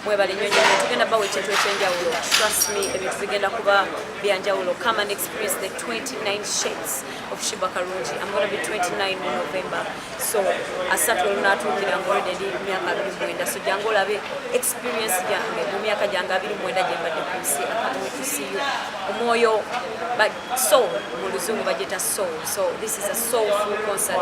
mwebale nyo nyo tugenda bawa ekintu ekyenjawulo trust me ebintu bigenda kuba byanjawulo come and experience the 29 shades of shiba karungi i'm gonna be 29 in november so asatu olunaatuukira nga olede ndi myaka abiri mwenda so jangu olabe experience gyange mu myaka gyange abiri mwenda gyembadde ku nsi akamutusiyo omwoyo so mu luzungu bagyeta soul so this is a soulful concert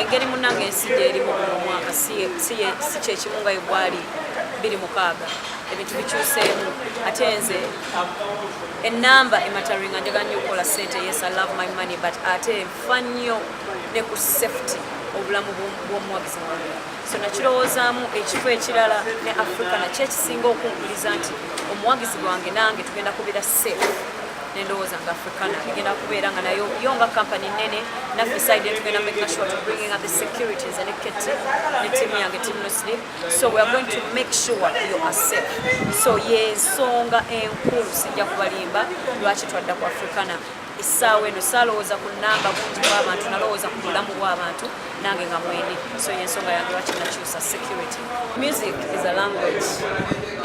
engeri munange ensi gyerimu guno omwaka si kyekimu nga egwali biri mukaaga ebintu bikyuseemu ate nze enamba emataringa njaga nnyo okukola sente yes i love my money but ate nfa nnyo ne ku safety obulamu bw'omuwagizi wange so nakirowoozaamu ekifo ekirala ne afrika nakyo ekisinga okunkuliza nti omuwagizi gwange nange tugenda kubira safe nendowooza nga africana egenda kubeera nga nayo yo nga company nene naffe side yetu genda making sure to bringing up the security nze ne keti ne team yange team no sleep so we are going to make sure you are safe so yensonga enkulu sijja kubalimba lwaki twadda ku africana essaawa eno saalowooza ku namba bungi bw'abantu nalowooza ku bulamu bw'abantu nange nga mwene so yensonga yange lwaki nakyusa security music is a language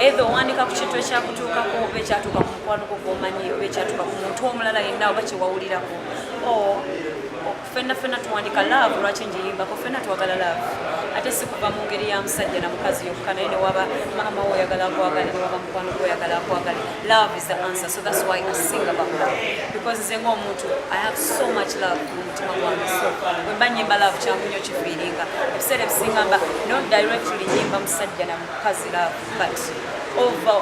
either owandika ku kintu ekyakutuukako oba ekyatuuka ku mukwano gwo gwomanyi oba ekyatuuka ku muntu omulala yenna oba kyewawulirako o fenna fenna tuwandika love lwaki njiyimbako fenna twagala love ate sikuva mu ngeri ya musajja na mukazi yokka naye newaba maama wo oyagala akwagale newaba mukwano gwo oyagala akwagale love is the answer so that's why i sing about love because nze ngaomuntu i have so much love wemba nyimba love kyangu nyo kifiiringa ebiseera ebisinga mba no directly nyimba musajja na mukazi love but over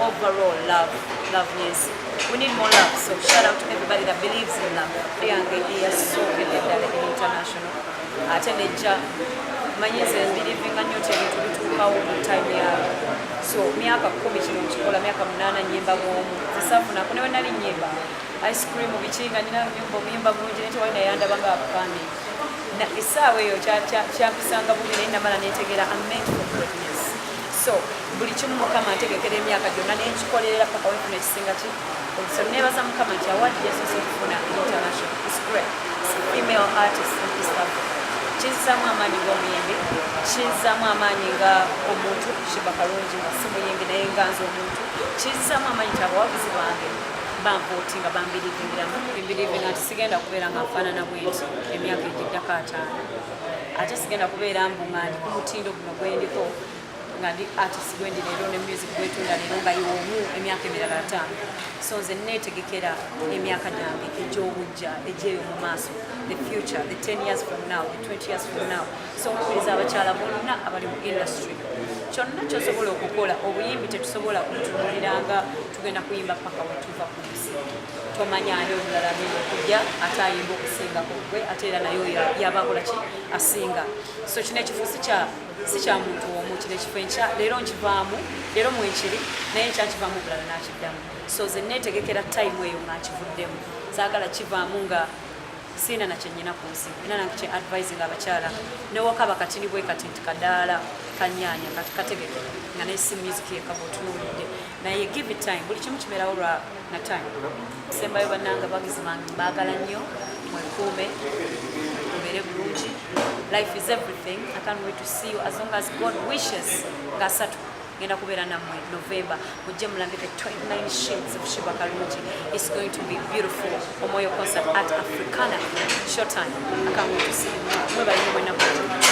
overall love love yensi we need more love so shout out to everybody that believes in love eyange eyasookedde ddala in international ate nejja manyi nze mbirivinga nyo tebintu bituukawo mu time yawe so myaka kumi kino nkikola myaka munaana nyimba bwomu zesafunako newe nali nyimba ice cream biki nga nyina nyumba omuyimba mulungi naye tewali naye andaba nga abupande essaawa eyo kyakusanga bubi naye namala netegeera ament for greatness so buli kimu mukama ntegekera emyaka gyonna nenkikolerera paka wefuna ekisinga ki so nebaza mukama nti awadi yasose okufuna international is great female artist in east africa kizzaamu amaanyi ng'omuyimbi kizzaamu amaanyi nga omuntu shiba kalungi nga simuyimbi naye nga nze omuntu kizzaamu amaanyi nti abawagizi bange banvootinga bambirivingiramu mbirivinga nti sigenda kubeera nga nfaanana bwenti emyaka egiddako ataano ate sigenda kubeera mbu nga ndi ku mutindo guno gwendiko nga ndi artist gwendi leero ne music gwetunda leero nga yomu emyaka emirala ataano so nze neetegekera emyaka gyange egy'obujja egyeyo mu maaso the future the 10 years from now the 20 years from now so nkubiriza abakyala bonna abali mu industry kyonna kyosobola okukola obuyimbi tetusobola kutunuliranga tugenda kuyimba paka wetuva ku nsi tomanya ani omulala agenda okujja ate ayimba okusingako gwe ate era naye oyo yabakola ki asinga so kino ekifo si kya muntu omu kino ekifo enkya leero nkivaamu leero mwenkiri naye nkya nkivaamu omulala nakiddamu so ze netegekera time eyo nga nkivuddemu zaagala kivaamu nga siina na kyenyina ku nsi era nange kye advising abakyala newakaba katini bwe kati nti kadaala kanyanya kati kategeke nga naye si music yekaba otunuulidde naye give it time buli kimu kiberawo lwa na time sembayo bananga bagizi bange mbagala nnyo mwekuume mubere bulungi life is everything i can't wait to see you as long as god wishes nga satu ngenda kubeera nammwe november mujje mulambe the 29 shades of shiba kalungi is going to be beautiful omwoyo concert at africana shortan akamwe tusiimwe mwebalimu mwenaku